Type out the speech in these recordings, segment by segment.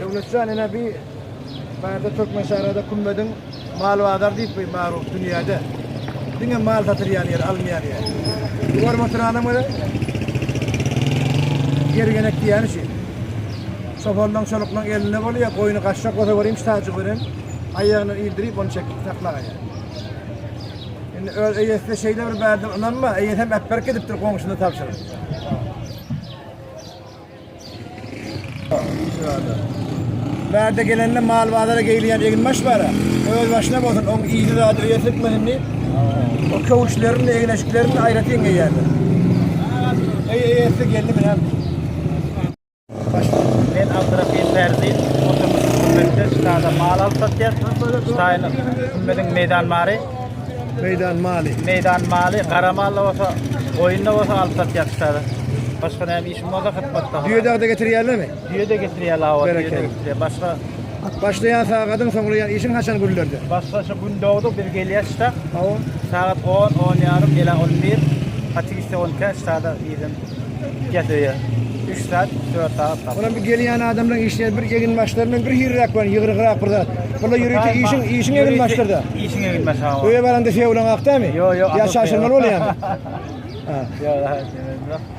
Döwletjan ene bir barda Türkmen şäherinde kumbedin Mal bazar diýip bu magruh dünýäde diňe mal satylýan ýer, alynýan ýer. Görüp oturanam öle ýer genek diýýän üçin. Çopanlaň, çoluklaň elinde bolýar, goýny gaçjak bolsa görýän şitaçy görýän, aýagyny ildirip ony çekip saklagaýýar. Indi öz eýesine şeýle bir bärden ynanma, eýesem äpberk edipdir goňşyna tabşyryp. Bärde gelende mal bazara geýilýän egin baş bara. Öz başyna bolsun, oň iýdi zady öýe sökmesin diýip. O köwüşlerini, egneşiklerini aýratyn geýýärler. Eý, eýesi geldi bilen. Men Abdurahim Perzin, oturmuş hükümette ştada mal alyp satýar. Ştaýynyň hükümetiň meýdan mary. Meýdan maly. Meýdan maly, gara malla bolsa, goýunda bolsa alyp satýar ştada. Başga näme Şumada hyzmat baglar. Düýe-de getirýärlermi? Düýe-de getirýärler awa. Berekella. Başga Başlaýan sagadyň soňlaýan işiň haçan günlerde? Başga şu gün dogdy biz gelýäs şta. Awa. Sagat 10, 10 ýarym, ýa 11. Hatiste 12 ştada ýedim. Gel öýe. 3 saat, 4 saat. Olam bir gelýän adamlaryň işine bir egin başlar men bir hirräk bar, ýygyrygrak bir zat. Bula ýörite işiň işiň egin başlar da. Işiň egin başlar. Öýe baranda feolan akdamy? Ýa şaşyrmaly bolýamy? Ha. Ýa.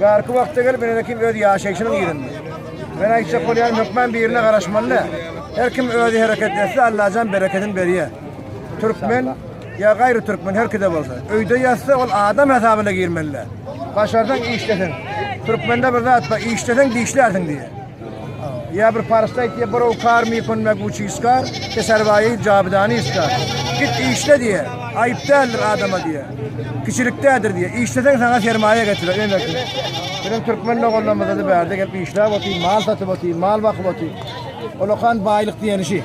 Bärki wagtda gelip ine kim öz ýaşaýşynyň ýerinde. Men aýtjak bolýan hökman birine garaşmaly dä. Her kim özi hereket etse Allajan berekedini berýä. Türkmen ýa gaýry türkmen her kide bolsa. Öýde ýatsa ol adam hasabyna girmeli dä. Başarsaň işleseň. Türkmende bir zat bar işleseň dişlärsiň diýýär. Ýa bir paryşda aýt diýýär, Borow kar mi pun me guçi iskar, te serwaýi jabydani iskar. Git işle diýýär. Aýyp däldir adama diýýär. Kiçilikdädir diýýär. Işleseň saňa sermaýa getirer, öňeki. Biziň türkmen doganlarymyzda-da bärde gelip işläp otyr, mal satyp otyr, mal bakyp otyr. Olakan baýlyk diýeni şi.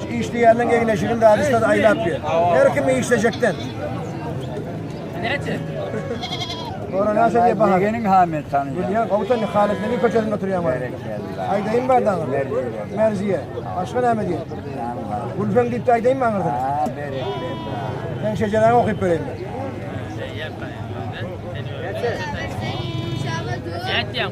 İşleýänden geňleşigiň zady şol aýlap ýör. Her kim işlejekden. Sonra näçe diýip bahar? Begeniň hamet tanýar. Bilýän gowtan Halidlerin köçesinde oturýan bar. Aýdaýyn bar daňy. Merziýe. Başga näme diýip? Gülfen diýip de aýdaýyn maňa. Ha, berek. Sen şejeräňi okyp bereýin. Ýatýaň.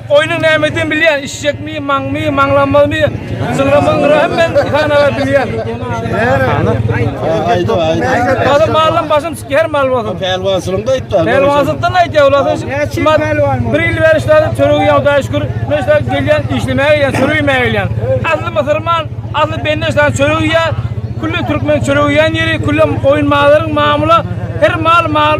Goýnuň nämedigini bilýän, işjekmi, maňmy, maňlanmazmy, jyňramyň gyraýam men Diýhan aga bilýän. Gazy malym başym çykýar her mal bolsun. Pälwançylygynda aýtdy. Pälwançylykdan aýtýar ulasy. Bir ýyl bäri işläp çöregi ýa Hudaýa şükür. Men işläp gelýän, işlemäge gelýän, çörek iýmäge gelýän. Asly musurman, asly bende işlän çörek iýýär. Külli türkmen çörek iýýän ýeri, külli goýun mallaryň mamula, her mal mal.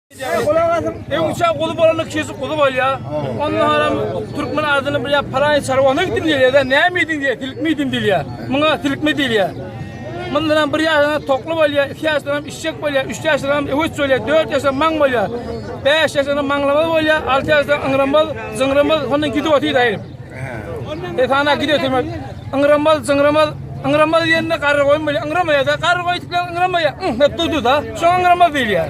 Gulak asyn. Öň üçe guly bolanda kesi guly bolýa. Onda haram türkmen adyny bir ýap paraý çarwana gitdim diýýär. Näme edin diýýär? Tilkme edin diýýär. Muňa tilkme diýýär. Mundan hem bir ýaşyna tokly bolýar, iki ýaşyna hem işçek bolýar, üç ýaşyna hem öwüt bolýar, dört ýaşyna maň bolýar, bäş ýaşyna maňlamaz bolýar, alty ýaşyna ýyňramaz, ýyňramaz, onda gidip otyr aýryp. E sana gidip oturmak. Ýyňramaz, ýyňramaz, ýyňramaz diýende garry goýun bolýar. Ýyňramaýar da, garry goýun diýende ýyňramaýar. Dur dur da, şoňa ýyňramaz diýilýär.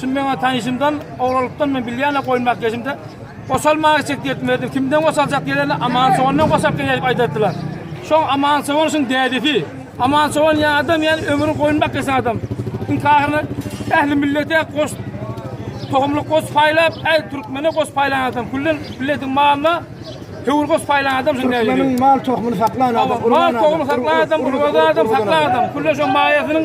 Şum meňa tanyşymdan, ogralykdan men bilýän-ä goýun bakýajymda, Goşal maňa çek diýip berdim. Kimden goşaljak diýerinde, Aman çobandan goşap gel diýip aýdatdylar. Şoň Aman çoban şuň dädesi. Aman çoban ýa adam, ýa ömrüň goýun bakýasan adam. Iň ahyryna ähli millete goş tohumlyk goş paýlap, äý türkmene goş paýlan adam, külli milletiň malyna höwür goş paýlan adam şuň dädesi. Türkmeniň mal tohumyny saklan adam, urgan adam. Mal tohumyny saklan adam, urgan adam, saklan adam, külli şoň maýasynyň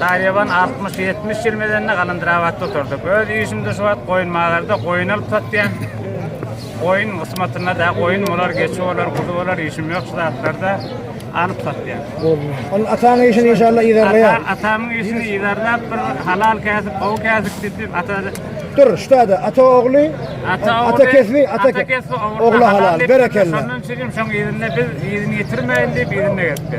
Saryýewan altmyş-ýetmiş ýyl medende Galandyrabatda oturdyk. Öz işimde şu wagt goýun magarda goýun alyp satýan. Goýun gysmatynda da goýun bolar, geçi bolar, guzy bolar, işim ýok şu zatlarda alyp satýan. Ol ataň işini inşallah yzarlaýar. Ata, atamyň işini yzarlap bir halal käsip, gowy käsip diýip ata Dur, şutada ata ogly, ata, ata kesbi, ata, ata kesbi ogla halal, berekella. Şondan üçin şoň ýerinde biz ýerini ýetirmeýin diýip ýerinde geldi.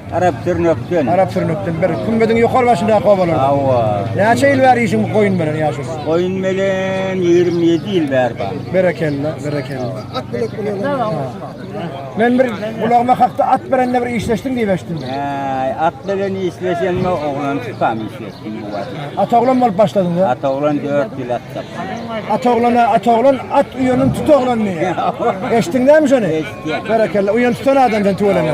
Arap Sürnökden. Arap Sürnökden bir Kümmediň ýokary başyndaky obalar. Hawa. Näçe ýyl bäri işiň goýun bilen ýaşaýyş? Goýun bilen 27 ýyl bäri bar. Berekella, berekella. At bilek bilen. Men bir gulagyma hakda at berende bir işleşdim diýip eşitdim. Äý, at bilen işleşenme oglan çykam işleşdim bu wagt. At oglan bolup başladyň da? At oglan 4 ýyl at tapsam. At oglana, at oglan, at uýanyň tut oglan diýýär. Eşitdiňmi şony? Eşitdim. Berekella, uýany tutan adam sen tüweleme.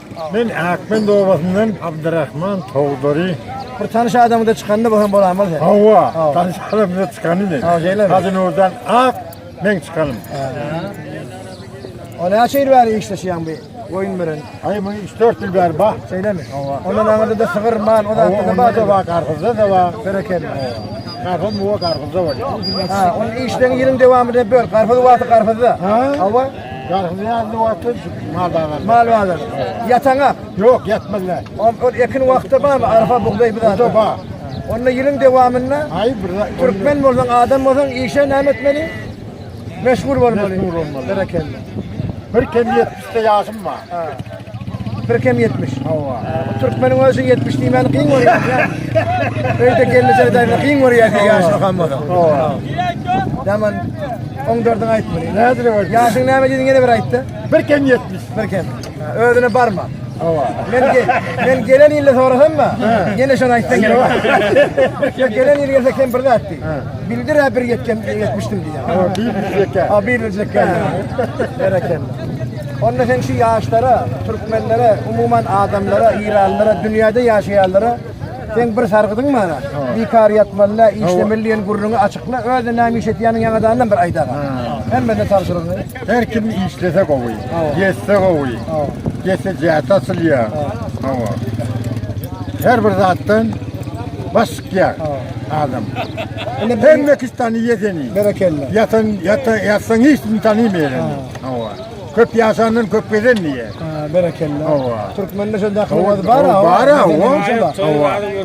Men Akmend obasyndan Abdurrahman Togdary. Bir tanyş adamyňda çykanda bu hem bolan bolsa. Hawa, tanyş adamyňda çykany men. Ha, şeýle. Hazin oradan ak men çykanym. O näçe ýyl bäri işleşýän bu goýun bilen? Aý, men 3-4 ýyl bäri bar. Şeýlemi? Hawa. Ondan aňyrda da sygyr, mal, o zatda da bar. Hawa, gargyzda da bar. Berekella. Gargyz muwa gargyzda bar. Ha, onuň işleýän ýylyň dowamynda böl. Gargyz wagty gargyzda. Hawa. Garhyzýarly wagty mal bazary. Mal bazary. Ýataňa? Ýok, ýatmazlar. Ol ekin wagty barmy? Arpa, bugdaý bir zat. Bar. Onda ýylyň dowamynda Aý bir türkmen bolsaň, adam bolsaň, işe näme etmeli? Meşgul bolmaly. Meşgul bolmaly. Berekella. Bir kem 70 ýaşym bar. Birkem 70. Hawa. Bu türkmeniň özi 70 diýmäni kyn görýär. Öýde gelmese daýma kyn görýär diýýär ýaşly hammada. Hawa. Daman 14-iň aýtmaly. Nädire gördi? Ýaşyň näme diýdiň ýene bir aýtdy. Birkem 70. Birkem. Ha, Özüne barma. Hawa. Men ge- men gelen ýylda sorasam mı? Ýene şony aýtsaň gerek. Ya gelen ýyl gelse kem bir zat diý. Bildir ha bir ýetken ýetmişdim diýýär. Hawa, bir ýetken. Ha bir ýetken. Berekella. Onda sen şu ýaşlara, türkmenlere, umuman adamlara, eýranlylara, dünýäde ýaşaýanlara sen bir sargydyň bana. Bikar ýatmaly, işlemeli diýen gürrüňi açykla, özü näme iş etýäniň ýaňadandan bir aýdaga. Hemmede tabşyrygyny. Her kim işlese gowy, yetse gowy, yetse zähmet asylýa. Hawa. Her bir zatdan baş çykýar adam. Hemme kişi tanýar seni. Berekella. Yatan, yatan, yatsan hiç kim tanýmaýar. Hawa. Köp ýaşandan köp gezen diýe. Ha, berekella. Hawa. Türkmende şonda akylmaz bar ha. Bar ha. Hawa.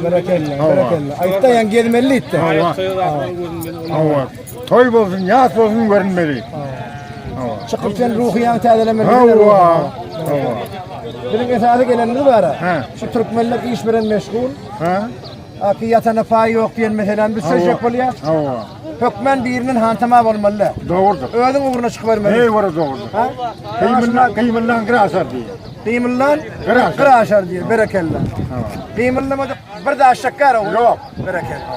Berekella, berekella. Aýtda ýan gezmeli itde. Hawa. Hawa. Toý bolsun, ýas bolsun görünmeli. Hawa. Çykyp sen ruhy ýan täzelemeli. Hawa. Hawa. Biziň esasy gelenimiz bar ha. Şu türkmenler iş bilen meşgul. Ha. Aky ýatana paý ýok diýen meseläni biz çözjek bolýar. Hawa. Hökmen biriniň hantama bolmaly. Dogrudyr. Özüň ugruna çykybermeli. Eý wara dogrudyr. Ha? Gymyllan, gymyllan graşar diýýär. Gymyllan graşar, graşar diýýär. Berekella. Hawa. Gymyllamadyk bir daş çakar o. Ýok. Berekella.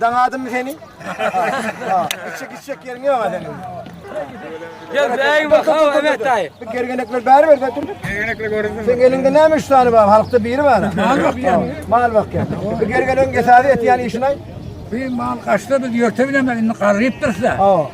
Daňadymy seni? Içjek içjek ýeriň ýok-a seniň. Gel bägim bak, hawa, evet, daýy. Bu gergenekler bäri ber, dur, dur. Gergenekler görünsin. Sen eliňde näme üç sany bar? Halkda biri bar. Mal bakýan. Mal bakýan. Bu gergenegiň esasy etýän işini aýt. Bir mal kaçta biz yörte bilemek indi garrypdyrs da.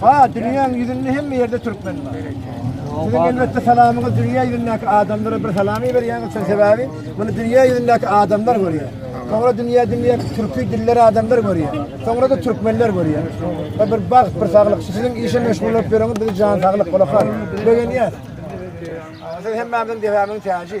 Ha, dünýäň ýüzünde hemme ýerde türkmen bar. Siziň elbetde salamyňyz dünýä ýüzündäki adamlara bir salam berýäňiz, çünki sebäbi muny dünýä ýüzündäki adamlar görýär. Soňra dünýä dünýä türki diller adamlar görýär. Soňra-da türkmenler görýär. Bu bir bagt, bir saglyk. Siziň işe meşgul bolup ýöreňiz, bizi jan saglyk, gulak as. Begenýär. Siz hemmämiziň debämiň täji.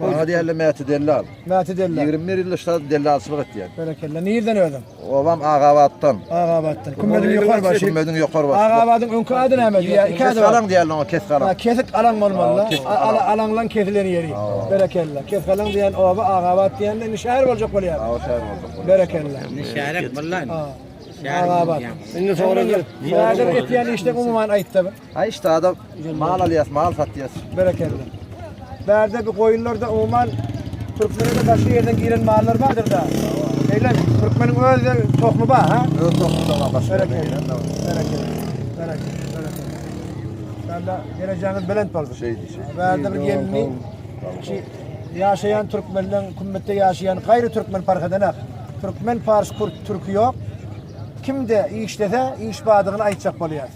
Maňa diýerler Mäti dellal. Mäti dellal. 21 ýyl şa dellalçylyk etýän. Berekella. Nirden özüm? Obam Agabatdan. Agabatdan. Kümmediň ýokar başy. Kümmediň ýokar başy. Agabadyň öňki ady näme diýýär? Iki ady. Kesgalan diýerler oňa, kesgalan. Ha, kesik alan bolmaly. Ala alanlan kesilen ýeri. Berekella. Kesgalan diýen oba Agabat diýende indi şäher boljak bolýar. Ha, şäher boljak bolýar. Berekella. Indi şäher bolýar. Ha. Agabat. Indi soralar. Nädip etýän işde umuman aýtdy. Ay işte adam mal alyas, mal satyas. Berekella. Bärde bir koyunlarda umuman Türkmen'e de başka yerden giren mallar vardır da. Öyle mi? Türkmen'in öz de tohumu var ha? Öz tohumu da var başka yerden giren de var. Berekella. Berekella. Berekella. Ben de geleceğiniz belent olsun. Şey, şey. Bärde bir gelini ki yaşayan Türkmen'den kümmette yaşayan gayrı Türkmen fark edenek. Türkmen, Fars, Kürt, Türkü yok. Kim de işlese iş badığını aytacak bolýar.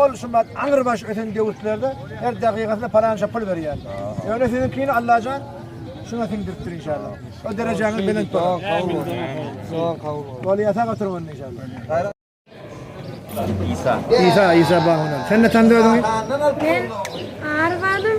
Ol şumat aňyr baş öten döwürlerde her dakykasyna palança pul berýär. Ýöne siziňkini Allajan şuna siňdiripdir inşallah. O derejäňiz belent bolsun. Kabul bolsun. Soň kabul bolsun. Bol ýasak oturyň onda inşallah. İsa. İsa, İsa bahunan. Sen ne tanıdı özüňi? Ben Arvan'ım.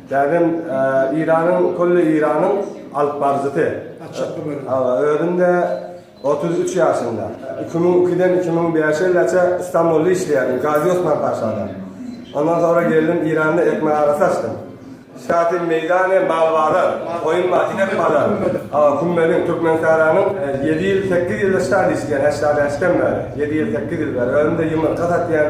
Däbem Eýranyň külli Eýranyň alypbaryjysy. Özüm-de otuz üç ýaşymda. Iki müň ikiden iki müň bäşe ýylaça Stambulda işleýärdim, Gazi Osman Paşada. Ondan soňra geldim Eýranda ekmek arasy açdym. Şaty meýdany, mal bazar, goýun bazar, inek bazar. Kümmediň Türkmensähranyň ýedi ýyl, sekiz ýylda şaty işleýän, heşdä bäşden bäri. Ýedi ýyl, sekiz ýyl bäri. Özüm-de ýumurtga satýan.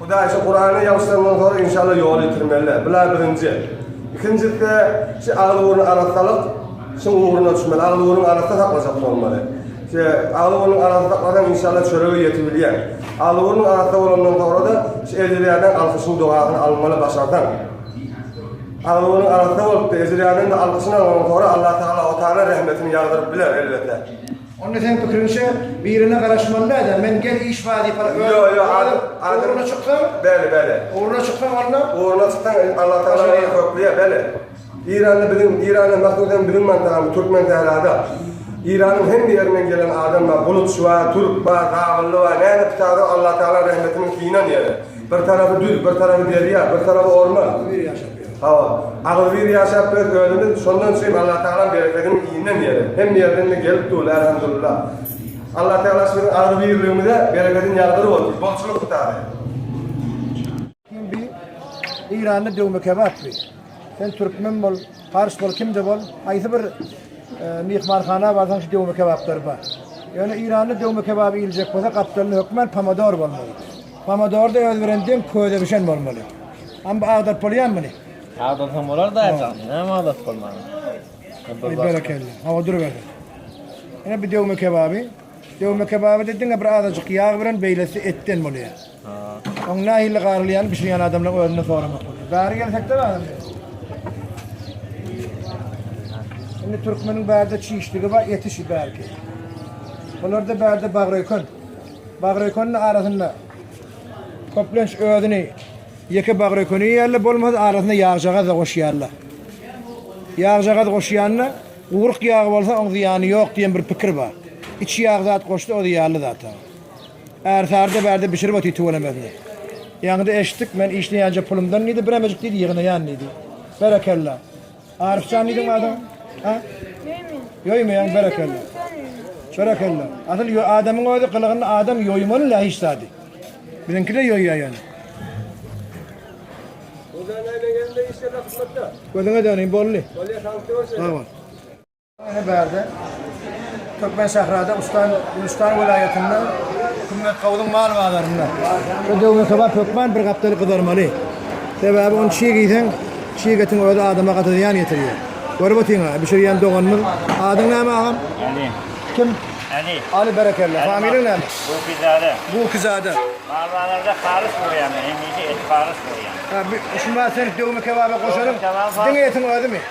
Hudaý şu Kurany ýagyşlandan soň inşallah ýoly ýitirmeliler. Bula birinji. Ikinjisi şu agzy burny arassalyk şuň ugruna düşmeli. Agzy burny arassa saklajak bolmaly. Şu agzy burny arassa saklasaň inşallah çörege ýetibilýär. Agzy burny arassa bolandan soňra-da şu ejirýäden alkyşyň dogasyny almaly başarsaň. Agzy burny arassa bolup-da ejirýäden-de alkyşyny alanyň soňra Allah Tagala o taýla rehmetini ýagdyryp biler elbetde. Onda seň pikiriňçe birine garaşmaly däl-de, men gel iş bar diýip bar. Ýo, ýo, adam, adam. Ugruna çyksaň. Bele, bele. Ugruna çyksaň onda. Ugruna çyksaň in Allah Taala seni hökleýär, bele. Eýranda biziň, Eýranda mahsus hem biziň mantagamyz Türkmen sährada. Eýranyň hemme ýerinden gelen adam bar, bulutçy bar, türk bar, kabylly bar, näme pitadur Allah Taala rehmetiniň synan ýeri. Bir tarapy düz, bir tarapy derýa, bir tarapy orman. Ýeri ýaşap. Hawa, agzybir ýaşap biz özümiz, şondan üçin Allatagalam berekedini iýenden ýere, hemme ýerden-de gelip dur, Elhamdulillah. Allatagala şunuň agzybirligimize berekedini ýagdyryp otyr, bolçulyk ýtaýy. Kim bi? Eýranda döwme kebap bi. Sen türkmen bol, pars bol, kimde bol, haýsy bir myhmanhana barsaň şu döwme kebaplar bar. Ýöne Eýranda döwme kebap iýiljek bolsa gapdalynda hökman pomodor bolmaly. Pomodorda öz bilen deň köze bişen bolmaly. Am bu agdaryp bolýarmy muny? Agdarsaň bolar da aýtsaň. Näme agdaryp bolman. Aý berekella. Hawa durubersin. Ine bu döwme kebaby. Döwme kebabyda diňe bir azajyk ýag bilen beýlesi etden bolýar. Ha. Oň nähili garylýany bişirýän adamlaryň özünden soramak bolýar. Bäri gelsek-de balam. Indi türkmeniň bärde çişdigi bar, eti şi bärki. Bularda bärde bagry öken. Bagrekönüň arasynda köplenç özüni ýeke bagreköni iýýärler, bolmasa arasyna ýagjagaz-da goşýarlar. Ýagjagaz goşýanda, guryk ýagy bolsa oň zyýany ýok diýen bir pikir bar. Içi ýag zat goşsa o zyýanly zat. Ärsary-da bärde bişirip otyr tüwelemesin. Ýaňyda eşitdik, men işleýänje pulumdan diýdi, biremejik diýdi ýygnaýan diýdi. Berekella. Arifjan diýdiň adyň? Ha? Ýöýmen. Ýöýmeýän berekella. Berekella. Asyl ýö adamyň özi gylygyny adam ýöýmeli la hiç zady. Biziňki de ýöýýär ýöne. Gözüňe döneýin boldy. Bolýa sag bol. Ine bärde Türkmensährada Ustan Gülüştan welaýatynda Hümmet Gawudyň mal bazarynda. Şu döwme sabah hökman bir gapdaly gyzarmaly. Sebäbi ony çig iýseň, çig etiň özi adama gaty zyýan ýetirýär. Görüp otyň-a, bişirýän doganymyz. Adyň näme agam? Aly. Kim? Aly. Aly berekella. Familiýaň näme? Gukizade. Gukizade. Mal bazarda halys bolýan, hemişe et halys bolýan. Ha, şu wagt sen döwme kebaba goşaryň. Diňe etiň özümi?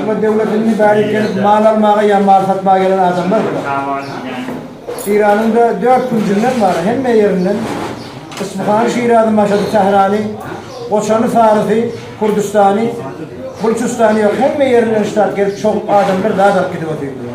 Şular döwletiň mübärik gelip mal almaga ýa mal satmaga gelen adamlar bular. Şiranyň da dört künjünden bar, hemme ýerinden. Yspyhany, Şirazy, Maşady, Tährany, Goçany, Farysy, Kürdüstany, Bulçystany ýok, hemme ýerinden ştat gelip çogup adamlar zat alyp gidip otyrdylar.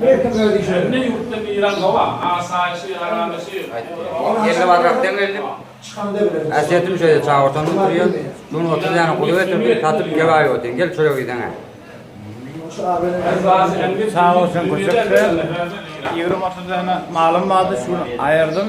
Her kim öz işine. Hemme ýurtda miran howa, asaýyşy, aramaşy. Elli barrak deň geldim. Çykanda bileris. Ätiýetim şeýle çagyrtan oturýan. Şuny otuz däne guly getirdim, satyp ýe baý otyn. Gel çörek iýseňä. Sag bolsun gurjak sen. Ýigrimi otuz däne malym bardy, şuny aýyrdym.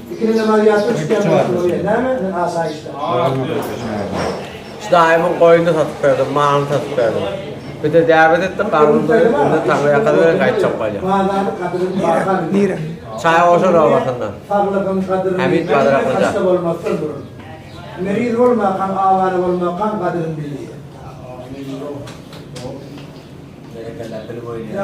Daýymyň goýnuny satyp berdim, malyny satyp berdim. Bir-de däbet etdik, garnym doýup, indi taňry ýakasy bilen gaýtjak bolýan. Nirä? Çaýgoşun obasyndan. Hämit Badraklyja. Berekella, dil boýunýa.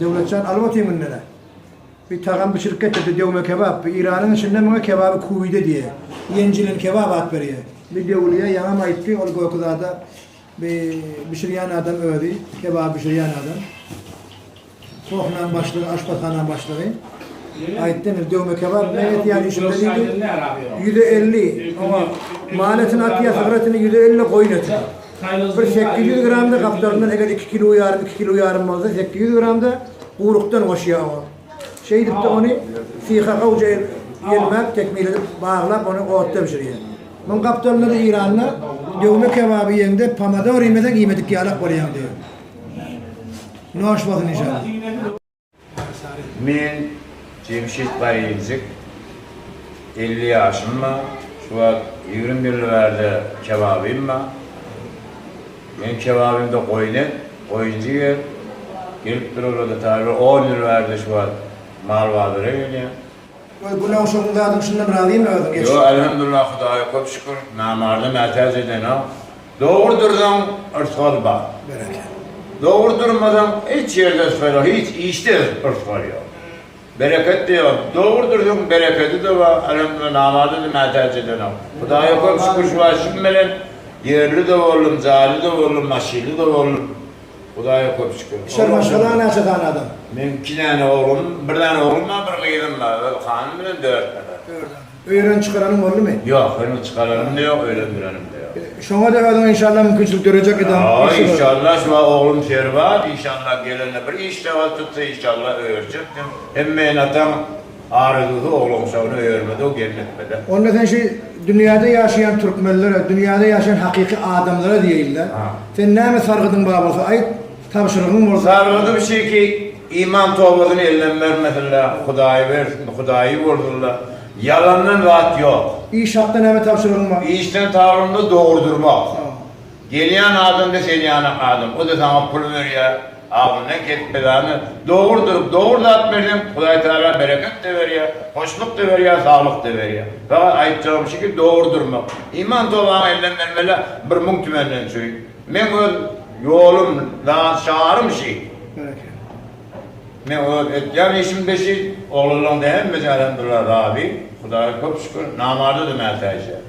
Döwletjan alyp otyň indi. Bir tagam bişirip getirdi döwme kebap. Bir Iranyň içinde muňa kebaby kuwide diýýär. Ýenjilen kebap at berýär. Bir döwülýä ýaňam aýtdy, ol göki zada bir bişirýän adam özi, kebap bişirýän adam. Sohnaň başlygy, aşpazhana başlygy, aýtdy, indi döwme kebap bilen ýetýän işimde diýdi, ýüze elli, oňa mal etini atýar, sygyr etini, ýüze elli goýun etini. Bir sekiz ýüz gram-da gapdalyndan, eger iki kilo ýarym, iki kilo ýarym bolsa, sekiz ýüz gram-da gurukdan goşýar oňa. Şeýdip-de ony syha gowja elmäp, tekmil edip, baglap, ony otda bişirýär. Muň gapdalynda-da Eýranda döwme kebaby iýeňde, pomidor iýmeseň iýmedik ýalak bolýaň diýýär. Noş bolsun inşallah. Men Jemşit Baýyljyk, elli ýaşym bar, şu wagt ýigrimi ýyldan bärde kebabym bar. Meniň kebabymda goýun et, goýunjyk et. Gelip durarlar, taýýarlar, on ýyl bärde şu wagt mal bazara gelýär. Goý günow şoň zadyň şundan razymy özüň geç. Ýo Elhamdullah Hudaýa köp şükür namarda mätäç edenok dogry dursaň yrsgal bar dogry durmasaň hiç ýerde yrsgal ýok hiç işde yrsgal ýok bereketde ýok dogry dursaň berekedi de bar Elhamdullah namarda da mätäç edenok Hudaýa köp şükür şu wagt şum bilen ýerli de boldum jaýly da boldum maşynly da boldum. Hudaýa köp şükür. Üçer maşgala näçe sany adam? Meň iki däne oglum, bir däne oglum bar, bir gyzym bar, ol hanym bilen dört däne. Dört däne. Öýürän çykaranyň boldumy? Ýok, heniz çykaranym-da ýok, öýlendirenim-de ýok. Şoňa-da özüňe inşallah mümkinçilik döreýjek edem. Ýa inşallah, şu wagt oglum Serbaz, inşallah gelende bir iş-sagat tutsa inşallah öýerjekdim. Hem meýnatam. Arygyzy oglançagyna öýermez-ow gelnetmede. Onda sen şu dünýäde ýaşaýan türkmenlere, dünýäde ýaşaýan hakyky adamlara diýeýin-le. Sen näme sargydyň bar bolsa aýt, tabşyrygyň bolsa. Sargydym şiki, iman tobasyny elden bermesinler, Hudaýy bersin, Hudaýy bolsunlar. Ýalandan zat ýok. Iş hakda näme tabşyrygyň bar? Işden taglymda dogry durmak. Gelýän adam-da sen ýanak adam. O-da saňa pul berýär. Agzyndan kesip-pedany dogurdyryp, dogry zat berseň, Hudaý Tagala bereket-de berýär, hoşluk-da berýär, saglyk-da berýär. Fakat aýtjagym şu ki, dogurdyrmak, iman tobaňy elden bermeli-ä bir müň tümenden çüýn. Meň öz ýolum, zat şarym şi. Meň öz etýän işim-de şi. Oglanlaryň-da hemmesi, Elhamdullah, razy, Hudaýa köp şükür, namarda-da mätäç ýaly.